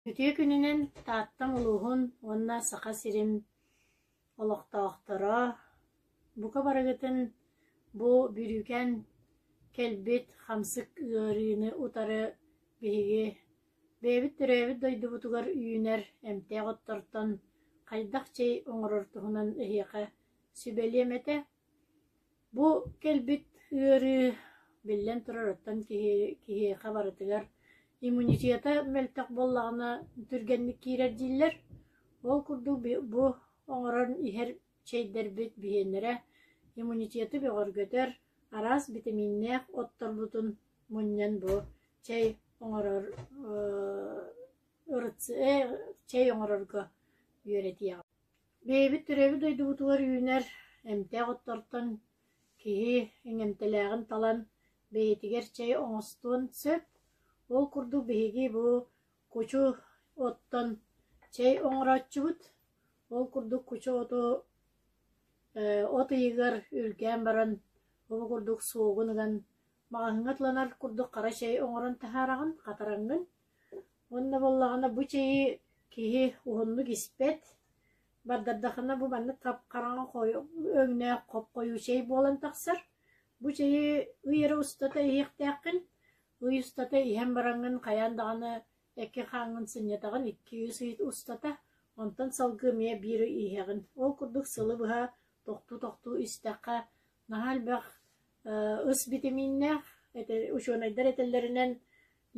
Үтүө күнүнэн Тааттам улууһун уонна Саха сирин олохтоохторо, бука барыгытын бу бүрүүкэн кэлбит хамсык ыарыыны утары биһиги бэйэбит төрөөбүт дойдубутугар үүнэр эмтээх оттортон хайдах чэй оҥорор туһунан эһиэхэ сүбэлиэм этэ Бу кэлбит ыарыы, биллэн турарыттан киһиэхэ барытыгар иммунитета мөлтөх буоллаҕына, түргэнник киирэр дииллэр. Ол курдук бу оҥорон иһэр чэйдэрбит биһиэннэрэ иммунитеты бөҕөргөтөр, араас битэмииннээх отторбутун мунньан бу чэй оҥорор чэй оҥорорго үөрэтиэҕим Бэйэбит төрөбүт дойдубутугар үүнэр эмтээх оттортон киһи эҥэмтэлээҕин талан, бэйэтигэр чэй оҥостуон сөп. Ол курдук биһиги бу кучу оттон чэй оҥорооччубут. Ол курдук кучу оту э от ыйыгар үргээн баран ол курдук суогун ыган маҕаһыыҥҥа ылынар курдук хара чэй оҥорон таһаараҕын, хатараҥҥын. Уонна буоллаҕына бу чэйи киһи уһуннук испэт, бардардаххына бу маннык хараҥа өҥнөөх хоп-хойуу чэй буолан тахсар. Бу чэйи ый эрэ устата иһиэхтээххин, ый устата иһэн бараҥҥын хайаан даҕаны икки хааҥҥын сынньатаҕын, икки-үс ый устата, онтон салгыы эмиэ биир ый иһэҕин. Ол курдук сылы быһа тохтуу-тохтуу истэххэ наһаа элбэх ыс битэмииннээх, учуонайдар этэллэринэн,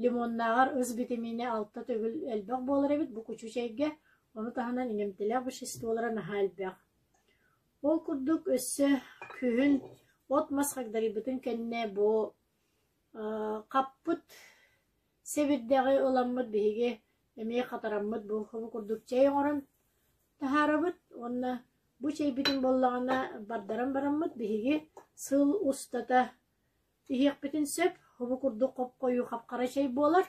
Лимоннааҕар ыс битэмиинэ алта төгүл элбэх буолар эбит бу кучу чэйгэ, ону таһынан иҥэмтэлээх веществолара наһаа элбэх. Ол курдук өссө күһүн от-мас хагдарыйбытын кэннэ бу хаппыт сэбирдэҕи ыламмыт биһиги эмиэ хатараммыт буурхабы курдук чэй оҥорон таһаарабыт уонна бу чэйбитин буоллаҕына бардаран бараммыт биһиги сыл устата иһиэхпитин сөп, һубу курдук хоп-хойуу хапхара чэй буолар.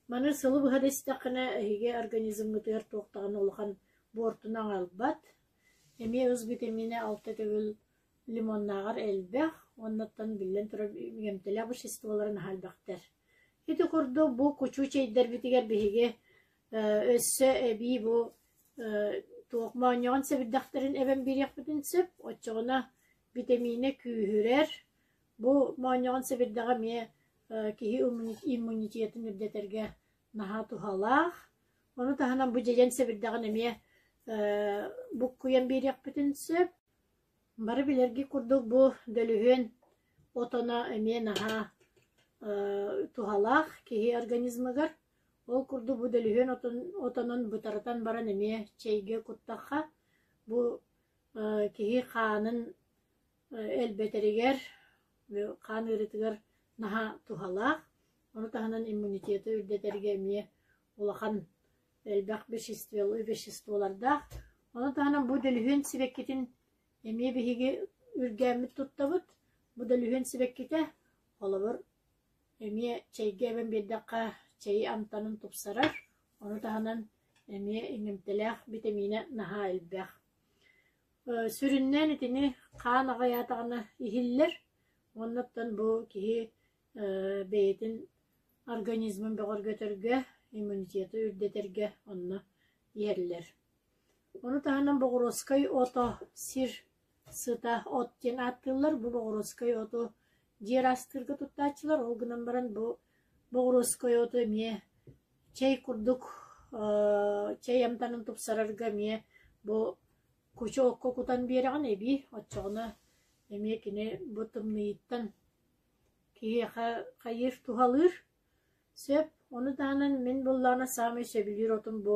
Маны сылы быһа да истэххинэ, эһиги организмҥытыгар туох даҕаны улахан буортуну аҕалбат. Эмиэ ыс витамина алта төгүл лимоннааҕар элбэх, оннуттан биллэн турар эмтэлэх веществолары наһаайбахтар. Ити курдук бу кучу чэйдэрбитигэр биһиги өссө эбии бу туох моонньоҕон сэбирдэхтэрин эбэн биэриэхпитин сөп, оччоҕуна Битэмиинэ күүһүрэр. Бу моонньоҕон сэбирдэҕэ эмиэ киһи иммунитетын үрдэтэргэ наһаа туһалаах. Ону таһынан бу дьэдьэн сэбирдэҕин эмиэ буккуйан биэриэхпитин сөп. Бары билэргит курдук бу дөлүһүөн отоно эмиэ наһаа туһалаах киһи организмыгар. Ол курдук бу дөлүһүөн отонун бытарытан баран эмиэ чэйгэ куттахха бу киһи хаанын элбэтэригэр, хаан ыарыытыгар наһаа туһалаах. Ону таһынан иммунитеты үрдэтэргэ эмиэ улахан элбэх веществолардаах. Ону таһынан бу дэлүһүөн сибэккитин эмиэ биһиги үргээммит туттабыт. Бу дэлүһүөн сибэккитэ, холобур, эмиэ чэйгэ эбэн биэрдэххэ, чэйи амтанын тупсарар. Ону таһынан эмиэ иҥэмтэлээх битэмиинэ наһаа элбэх. Сүрүннээн итини хаан аҕыйаатаҕына иһиллэр, оннуттан бу киһи бэйэтин организмын бөҕөргөтөргө, иммунитеты үрдэтэргэ онно иһэллэр. Ону таһынан боҕуруоскай ото сир сыта от диэн ааттыыллар. Бу боҕуруоскай оту дьиэ ыраастыырга туттааччылар, ол гынан баран бу боҕуруоскай оту эмиэ Чэй курдук чэй амтанын тупсарарга эмиэ бу кучуокка кутан биэрэҕин эбии, оччоҕуна эмиэ кини бу тымныйыттан киһиэхэ хайыыр туһалыыр. Сөп. Ону таһынан мин буллаҕына саамай сөбүлүүр отум бу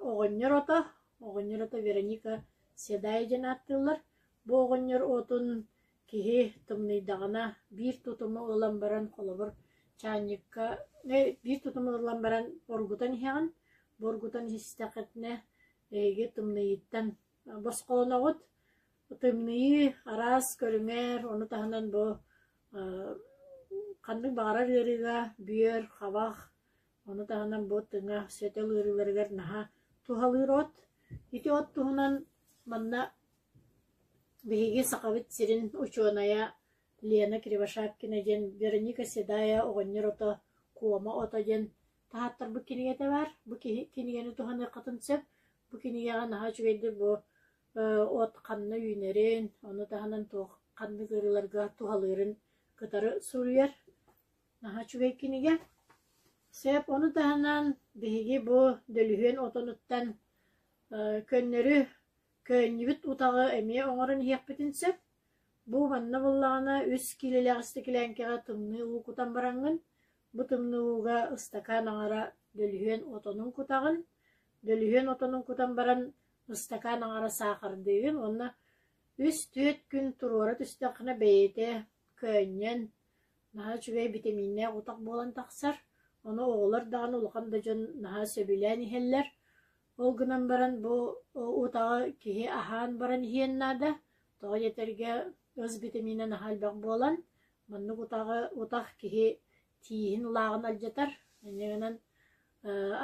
оҕонньор ото. Оҕонньор ото Вероника Седая диэн ааттыыллар. Бу оҕонньор отун Киһи тымныйдаҕына биир тутуму ылан баран холобур чаанньыкка биир тутуму ылан баран боргутан иһэҕин, боргутан истэххитинэ эһиги тымныйыыттан босхоноҕут. Тымныйыы араас көрүҥэр, ону таһынан бу ханнык баҕарар ыарыыга бүөр, хабах, ону таһынан бу тыҥа сөтөл ыарыыларыгар наһаа туһалыыр от. Ити от туһунан манна Биһиги Сахабыт сирин учуонайа Лена Кривошапкина диэн Вероника Седая оҕонньор ото Куома ото диэн таһааттарбыт кинигэтэ баар. Бу кинигэни туһаныаххытын сөп. Бу кинигэҕэ наһаа үчүгэйдик бу от ханна үүнэрин, ону таһынан туох ханнык ыарыыларга туһалыырын кытары суруйар наһаа үчүгэй кинигэ. Сөп. Ону таһынан биһиги бу дөлүһүөн отонуттан көннөрү Көөнньүбүт утаҕы эмиэ оҥорон иһиэхпитин сөп, бу манна буоллаҕына үс киилэлээх истэкилээҥкэҕэ тымныы уу кутан бараҥҥын, бу тымныы ууга ыстакаан аҥара дөлүһүөн отонун кутаҕын, дөлүһүөн отонун кутан баран ыстакаан аҥара саахардыыгын уонна үс-түөрт күн туруора түстэххинэ бэйэтэ көөнньөн, наһаа үчүгэй битэмииннээх утах буолан тахсар, ону оҕолор даҕаны улахан да дьон наһаа сөбүлээн иһэллэр. Ол гынан баран бу утаҕы киһи аһаан баран иһиэн наада, тоҕо диэтэргэ ыс битэмиинэ наһаа элбэх буолан, маннык утаҕы утах киһи тииһин лааҕын алдьатар, ини гынан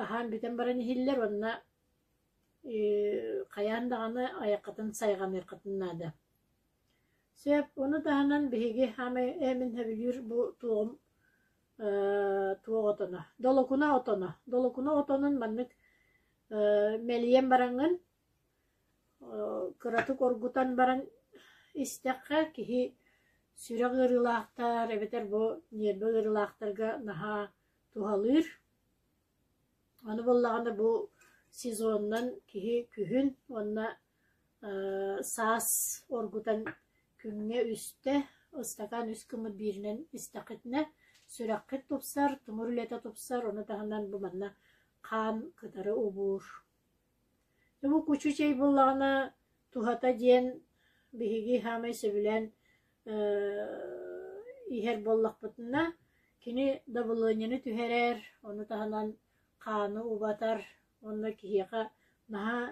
аһаан бүтэн баран иһиллэр уонна хайаан даҕаны айаххытын сайҕаныаххытын наада. Сөп, ону таһынан биһиги хаамай эмин сөбүлүүр бу туоҕум Ээ, туох отоно? Долокуна отоно. Долокуна отонун маннык э, мэлийэн бараҥҥын, э, кыратык оргутан баран истэххэ, киһи сүрэх ыарыылаахтар эбэтэр бу ньиэрбэ ыарыылаахтарга наһаа туһалыыр. Аны буоллаҕына бу сезонунан киһи күһүн уонна саас оргутан күҥҥэ үстэ, ыстакаан үс гыммыт бииринэн истэххитинэ сүрэххит тупсар, тымыр үлэтэ тупсар, ону таһынан бу манна хаан кытары убуур. Омук учуучай буоллаҕына туһата диэн биһиги саамай сөбүлээн иһэр буоллахпытына кини дабылыанньаны түһэрэр, ону таһынан хааны убатар, онно киһиэхэ наһаа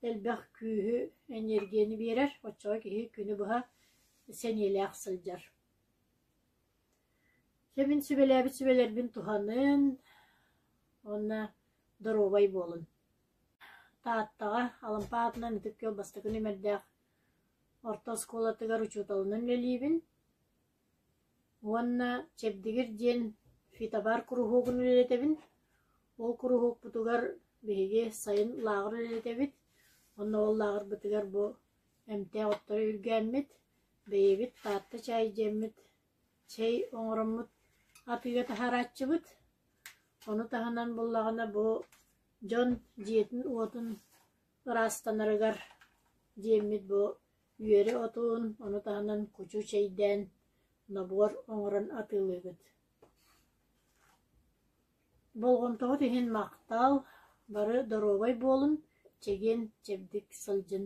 элбэх күүһү, эниэргийэни биэрэр, оччоҕо киһи күнү быһа сэниэлээх сылдьар. Дьэ мин сүбэлээбит сүбэлэрбин туһаныан уонна доруобай буолун. Тааттаҕа Алампа аатынан ытык күөл бастакы нүмердээх орто оскуолатыгар учууталынан үлэлиибин. Уонна Чэбдигир диэн фитобар куруһуогун үлэлэтэбин. Ол куруһуокпутугар биһиги сайын лааҕыр үлэлэтэбит. Уонна ол лааҕырбытыгар бу эмтээх оттору үргээммит, бэйэбит Таатта чаай диэммит чэй оҥороммут атыыга таһаарааччыбыт. Ону таһынан буоллаҕына бу дьон дьиэтин-уотун ыраастанарыгар диэммит бу Үөрэ отуун, ону таһынан кучу чэйдээн, нобуор оҥорон атыылыыгыт Болҕомтоҕут иһин махтал, бары доруобай буолун, чэгиэн, чэбдик сылдьын